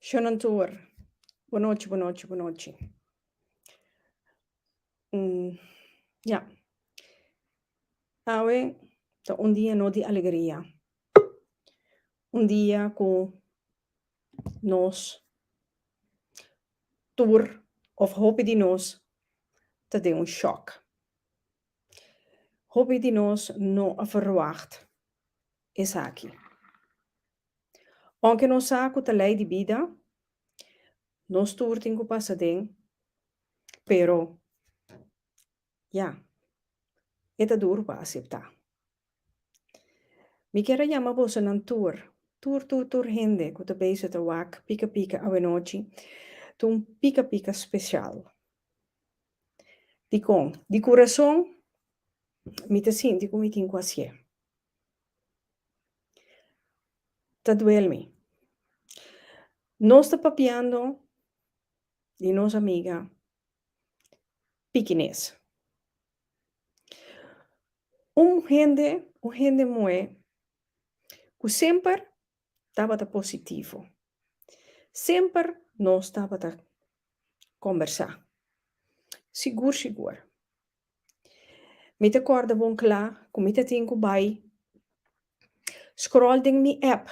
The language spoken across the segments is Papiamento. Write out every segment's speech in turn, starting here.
Shonan tur, Bo nochi, bo nochi, bo nochi. Ya. Awe ta un dia no di alegria. Un dia ku nos tur, òf hopi di nos, ta den un shòk. Hopi di nos no a verwagt esaki. Aunke nos sa cu ta ley di bida, nos tur tin cu pasa den, pero ya, e ta duru pa acepta. Mi kier a yama bosonan tur, tur tur tur hende cu ta bezig ta wak pika pika awenochi, ta un pika pika special. Dikon? Di kurason mi ta sinti ku mi tin ku hasié. Ta duel mi. Nos ta papiando di nos amiga pikinés. Un hende, un hende muhé ku semper tabata positivo. Semper nos tabata kombersá, sigur sigur. Mi ta kòrda bon kla ku mi ta tin ku bai scroll den mi app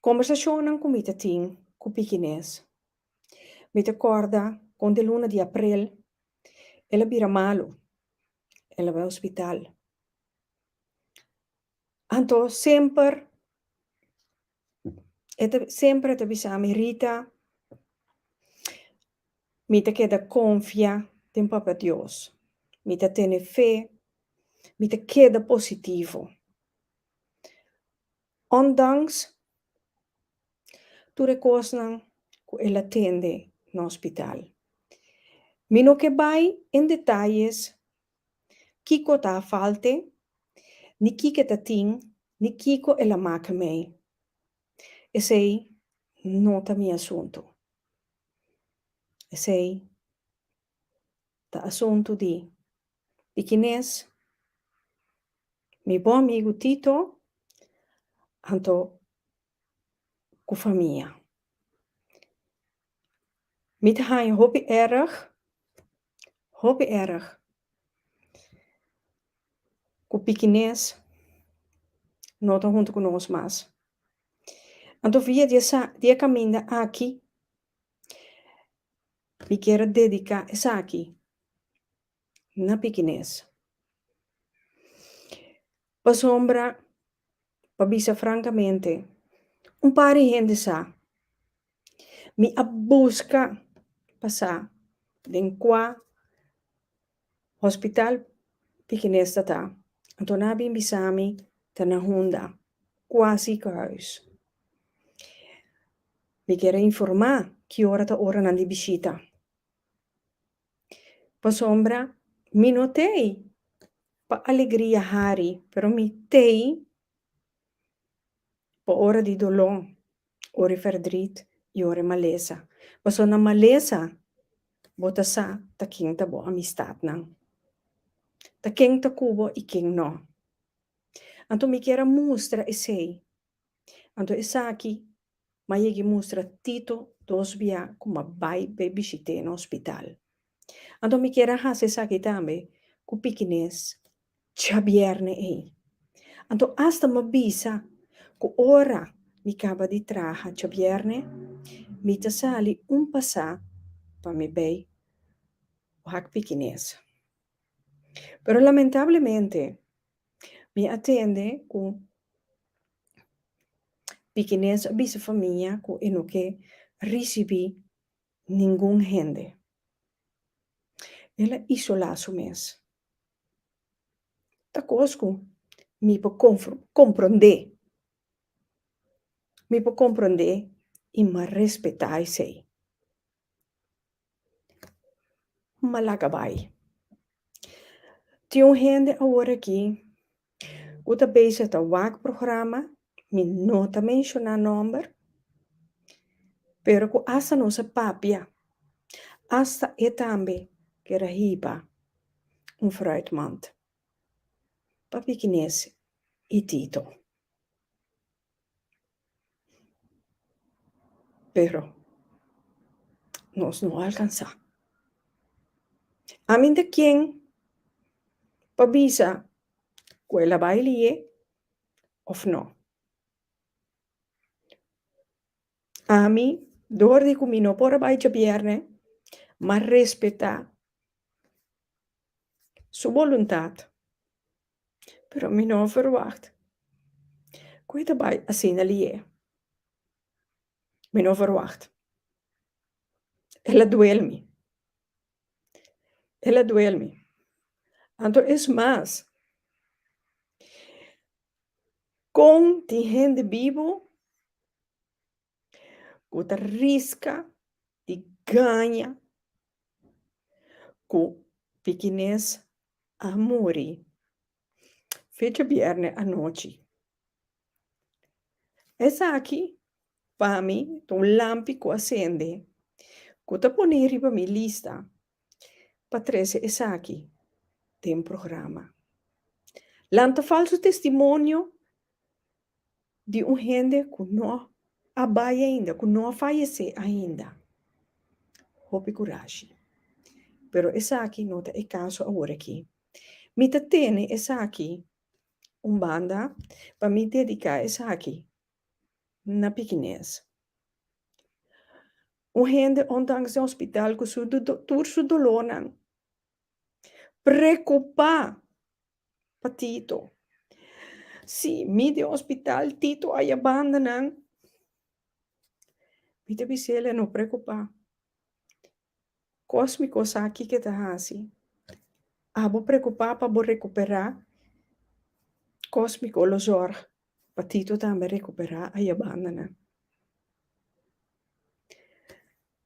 kombersashonnan ku mi ta tin ku pikinés. Mi ta kòrda kon den luna di aprel el a bira malu, el a bai hospital. Anto semper e ta semper e ta bisa mi Rita mi ta keda konfia den Papa Dios mi ta tene fe mi ta keda positivo ondanks tur e kosnan ku el a tende na hospital mi no ke bai en detayes Kiko ta a falte? Ni kike ta tin, ni kiko el a make mei? Esei no ta mi asuntu. Esei ta asuntu di pikines mi bon amigu Tito anto ku famia. Mi ta haña hopi erg. Hopi erg cu pikinez no ta hunto cu nos mas. Anto via di esa di e caminda aki mi quier a dedica esaki na pikinez. Pasobra, pa bisa frankamente, un par di hende sa mi a buska pasa den kua hospital pikinez ta ta, anto nan a bin bisa mi ta na Honda, kua ziekenhuis. Mi kere informa ki ora ta ora nan di bishita. Pasobra mi no ta ey pa alegria hari pero mi ta ey pa ora di dolo ora di ferdrit y ora di malesa pasobra na malesa bo ta sa ta ken ta bo amistad nan ta ken ta cubo y ken no anto mi kier a mustra esey. Anto esaki ma yegi mustra Tito dos bia ku ma bai pa e bishit'é na ospital. Anto mi kier a hasi esaki tambe ku pikinés djabièrnè ei. Anto asta m'a bisa ku ora mi kaba di traha djabièrnè, mi ta sali un pasá pa mi bai wak pikinés. Pero lamentablemente Mi a tende ku pikinesa a bisa famia ku e no ke risibí ningun hende. El a isolá su mes. Ta kos ku mi por komprondé. Mi por komprondé i mi a respetá esei. Malaga bai. Tin un hende awor aki ku ta beisha ta wak programa, mi no ta menshoná nòmber, pero ku asta nos a papia, asta e tambe ker a hiba un fruitmand pa pikinesi i tito. Pero, nos no alkansá. Aminta ken ta bisa ku el a bai lié òf nò. Ami, dor di ku mi no por a bai djabièrnè, m'a respetá su boluntat. pero mi no a verwagt cu e ta bay asina liye. Mi no a verwagt. El a duel mi. El a duel mi. Anto es mas, con tin hende bibu ku ta riska di gaña ku pikinez a muri fecha bièrnè anochi. Esaki pa mi ta un lampi ku a sende ku ta pone riba mi lista pa trese esaki den programa. Lanta falsu testimonio di un hende ku no a bai ainda, ku no a fayesé ainda. Hopi kurashi. Pero esaki no ta e kaso aworakí. Mi ta tene esaki un banda pa mi dediká esaki na pikinés. Un hende ondanks den hospital ku su tur su dolónan Preocupá pa Tito. Sí, mi den hospital Tito a yabanda nan. Mi ta bis'é el, no preocupá. Kos mi kos aki ke ta haci. Abo preocupá pa bo recuperá kos mi ko lo zorg pa Tito tambe recuperá a yabanda nan.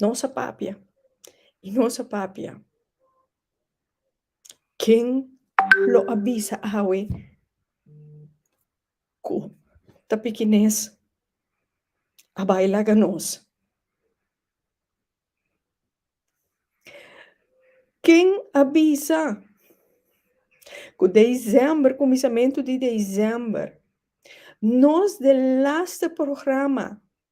Nos a papia y nos a papia ken lo a bisa awe cu ta pikines a bay laga nos? Ken a bisa cu december cuminsamentu di december nos de laster programa.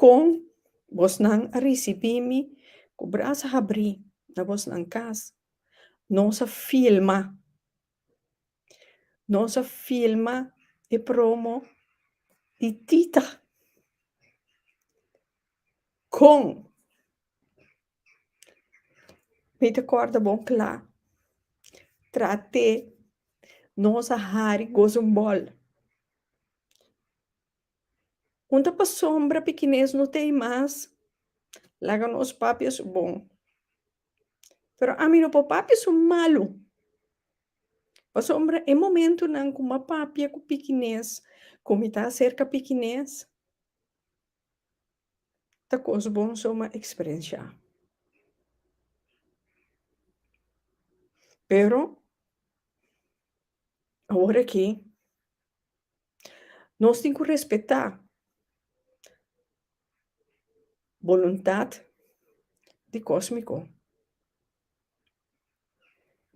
Kon bosnan a risibí mi ku bras habrí na bosnan kas? Nos a filma Nos a filma e promo di Tita Kon mi ta kòrda bon kla trat'é nos a hari gozumbòl. Punta pa sombra pikinés no t'ei mas, laga nos papia su bon. Pero ami no por papia su malu. Pasobra e momentunan ku m'a papia ku pikinés, ku mi ta aserka pikinés, ta kos bon so m'a eksperensiá. Pero, aworakí. Nos tin ku respetá boluntat di Kósmiko.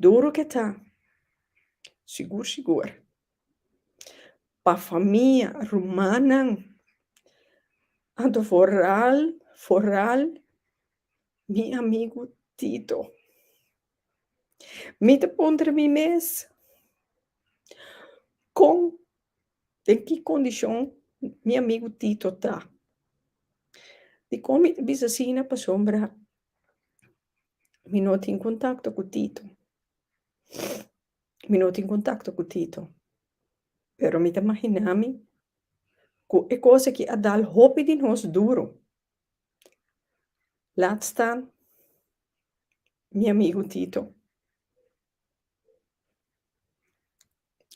Duru ke ta, sigur sigur, pa famia, rumannan, anto foral foral mi amigu Tito. Mi ta puntra mi mes, Kon, den ki kondishon mi amigu Tito ta? Dikon mi ta bisa asina? Pasobra mi no tin kontakto ku Tito. Mi no tin kontakto ku Tito. Pero mi ta imaginá mi ku e kos aki a dal hopi di nos duru. Laat staan mi amigo Tito.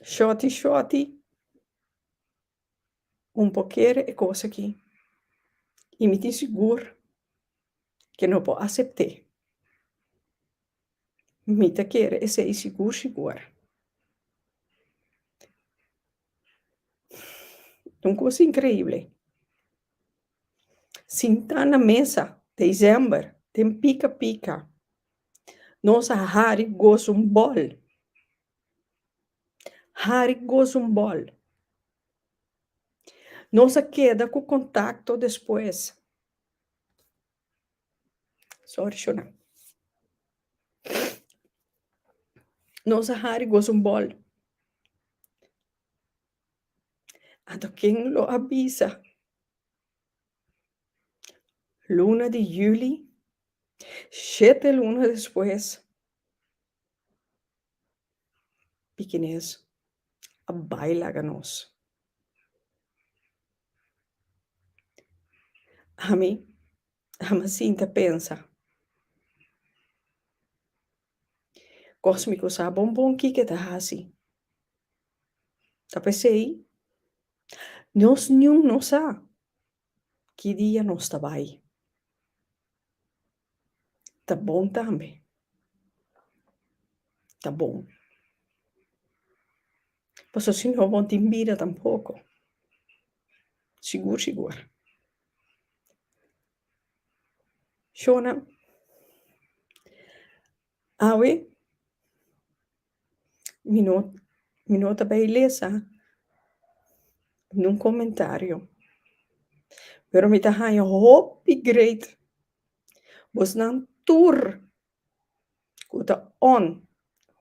Shorty shorty un por kere e kos aki y mi tin sigur ke no por acepte. Mi ta kere esei sigur sigur. Un cosa increíble. Sintá na mesa december den pica pica nos a hari gozo un bol. Hari gozo un bol. Nos a keda cu contacto despues. Sorry shona. Nos a hari gosa un bòl. Anto ken lo a bisa? Luna di juli, shete luna despues, pikinés. a bai laga nos. Ami a mi sinti a pensa, Kos mi ku sa bon bon kiko e ta hasi. Ta p'esei nos niun no sa ki dia nos ta bai. ta bon tambe. Ta bon. Pasobra si no bo tin bida tampoko. Sigur sigur. Shona, awe. Mi no mi no ta bay lesa ningún comentario pero mi ta haña hopi great bosnan tur cu ta on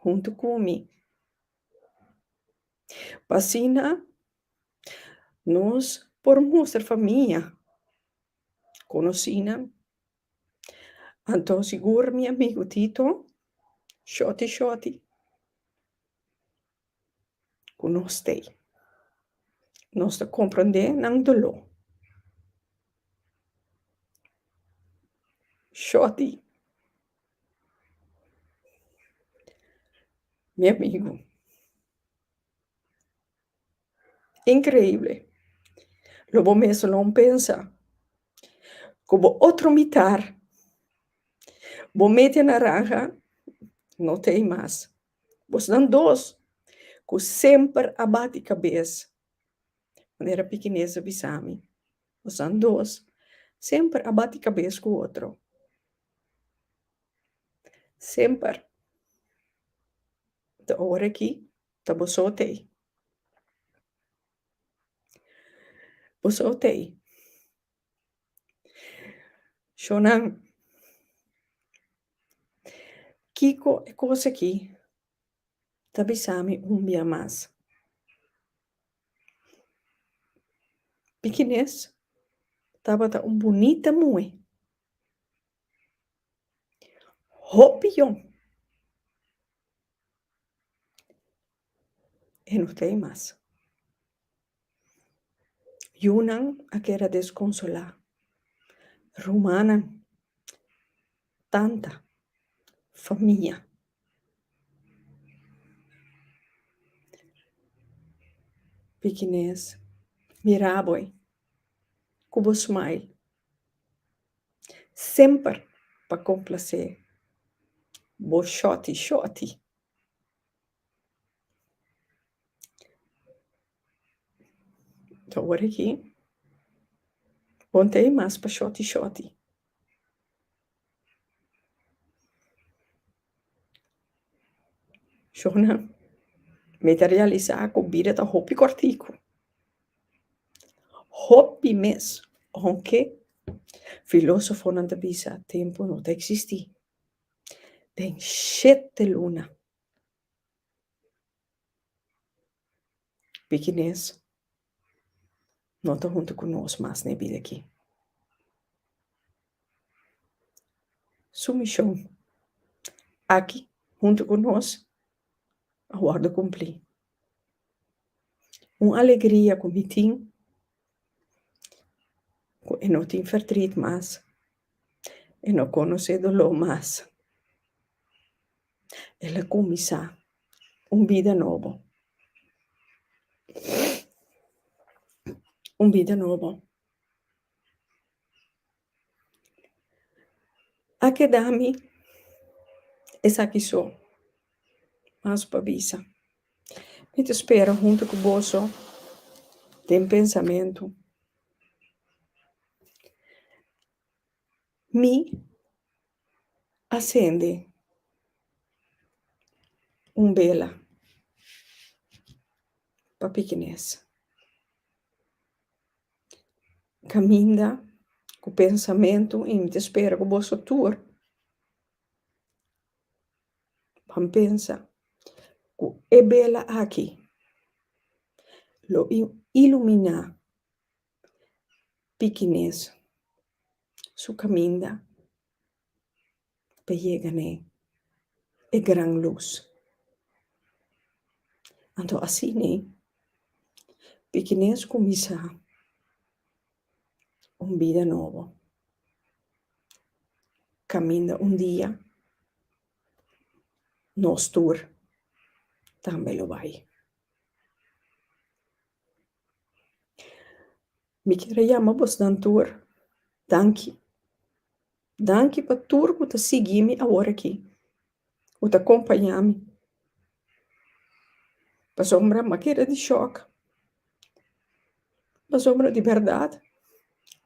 hunto cu mi pa asina nos por mustra famia conoci nan. Anto sigur mi amigu Tito, shorty shorty, ku nos stay. Nos ta komprendé nan doló. Shorty, mi amigu. Increible! Lo bo mes lo pensa cu bo otro mitar, bo media naranja, no ta ei mas. Bosnan dos cu semper a bati cabes, manera pikinesa bisa mi, bosnan dos semper a bati cabes cu otro. Semper. Ta ora aki Ta bo so tei. Bo so tei. Shonan, kiko e kos aki ta bisami un bia mas? Pikines tabata un bunita muhe. Hopi yon. E no ta e mas. Yunan a keda desconsola. Rumannan, tanta, famia. Pikinez, mira bo e cu bo smile. Semper pa complacé bo shorty shorty. Ta ora aquí bo no ta e mas pa shorty shorty. Shona, mi ta realisá ku bida ta hopi kòrtiku. Hopi mes. Aunke filósofonan ta bisa tempu no ta eksistí den shete luna. Pikinés no ta huntu ku nos mas na e bida akí. Su mishon aki huntu ku nos a wòrdu kumplí. Un alegria ku mi tin ku e no tin fertrit mas, e no konosé doló mas. El a kuminsá un bida nobo. Un bida nobo. A keda mi esaki so, mas pa bisa. Mi ta spera huntu ku boso den pensamentu. Mi a sende un bela pa pikinesa. Kaminda ku pensamentu i mi ta spera ku boso tur ban pensa ku e bela aki lo iluminá pikinez su kaminda ta yega na e gran lus. Anto asina pikinez kuminsá un bida nobo kaminda un dia nos tur tambe lo bai. Mi kier a yama bosnan tur danki. Danki pa tur ku ta sigui mi awor aki, ku ta kompaña mi. Pasobra mi a keda di shòk, pasobra di bèrdat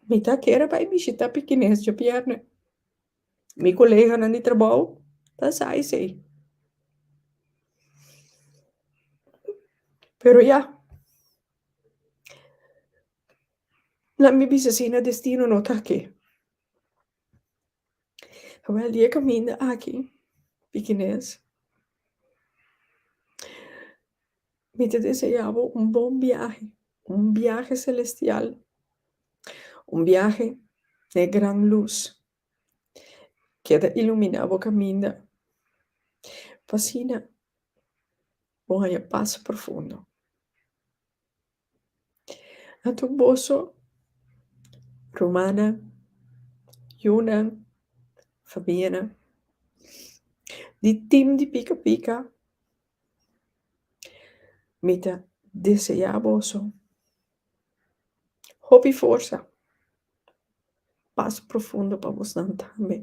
mi ta kere bai bishita pikineshnan pia. Mi koleganan di trabou ta sa esei. Pero ya, laat mi bisa asina, destino no ta aki. Awor di e kaminda aki, pikinez, Mi ta deseá bo un bon biahe, un biahe selestial, un biahe na e gran lus ku a ta iluminá bo kaminda, pa asina bo haña pas profundo. Anto boso, rumannan, yunan, famianan, di tim di pika pika, mi ta deseá boso hopi forsa, pas profundo pa bosnan tambe.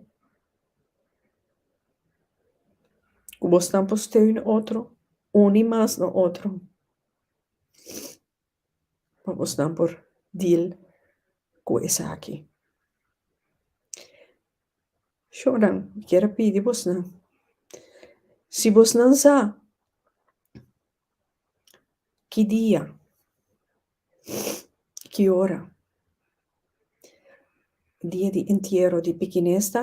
Ku bosnan por steun otro, uni mas na otro. pa bos nan por deal cu esaki. Shonan mi quier a pidi bos nan si bos nan sa ki dia y ki ora dia di entiero di pikinesta.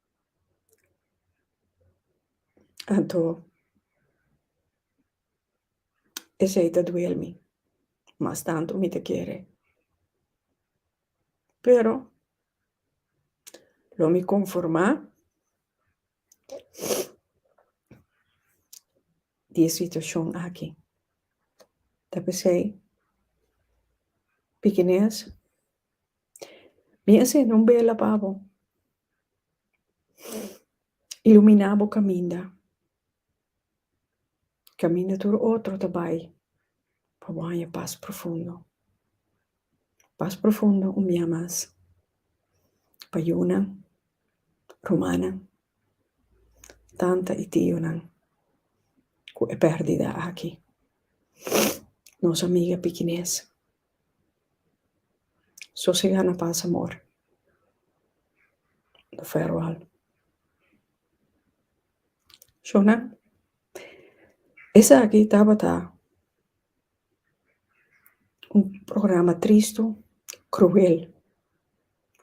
Anto esei ta duel mi mas tantu mi ta kere pero lo mi konformá di e situashon aki ta p'esei Pikinees mi a sende un bela pa bo. Ilumina bo kaminda, kaminda tur otro ta bai pa bo haña pas profundo. Pas profundo un bia mas pa yunan, rumannan, tanta i tionan ku e pèrdida aki. Nos amiga pikinès. Sosegá na pas amor. Don Fero Al. Shona, esaki tabata un programa tristu, kruel,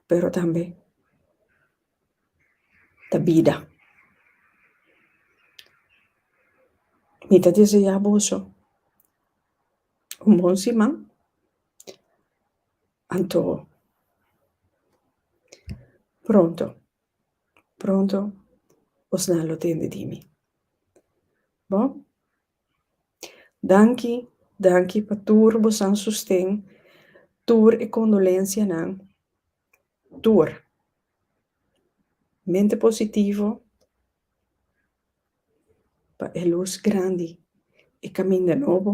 pero tambe ta bida. Mi ta deseá boso. Un bon siman anto pronto pronto osnan lo tende di mi bo danki danki pa tur bosan sosten tur e condolencianan tur mente positivo. pa e lus grandi e kaminda nobo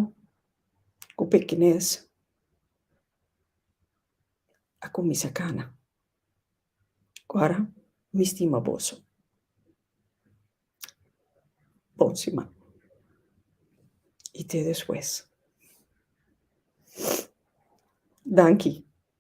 ku pekinès a kuminsá kana ora mi stima boso bon siman i te despues danki.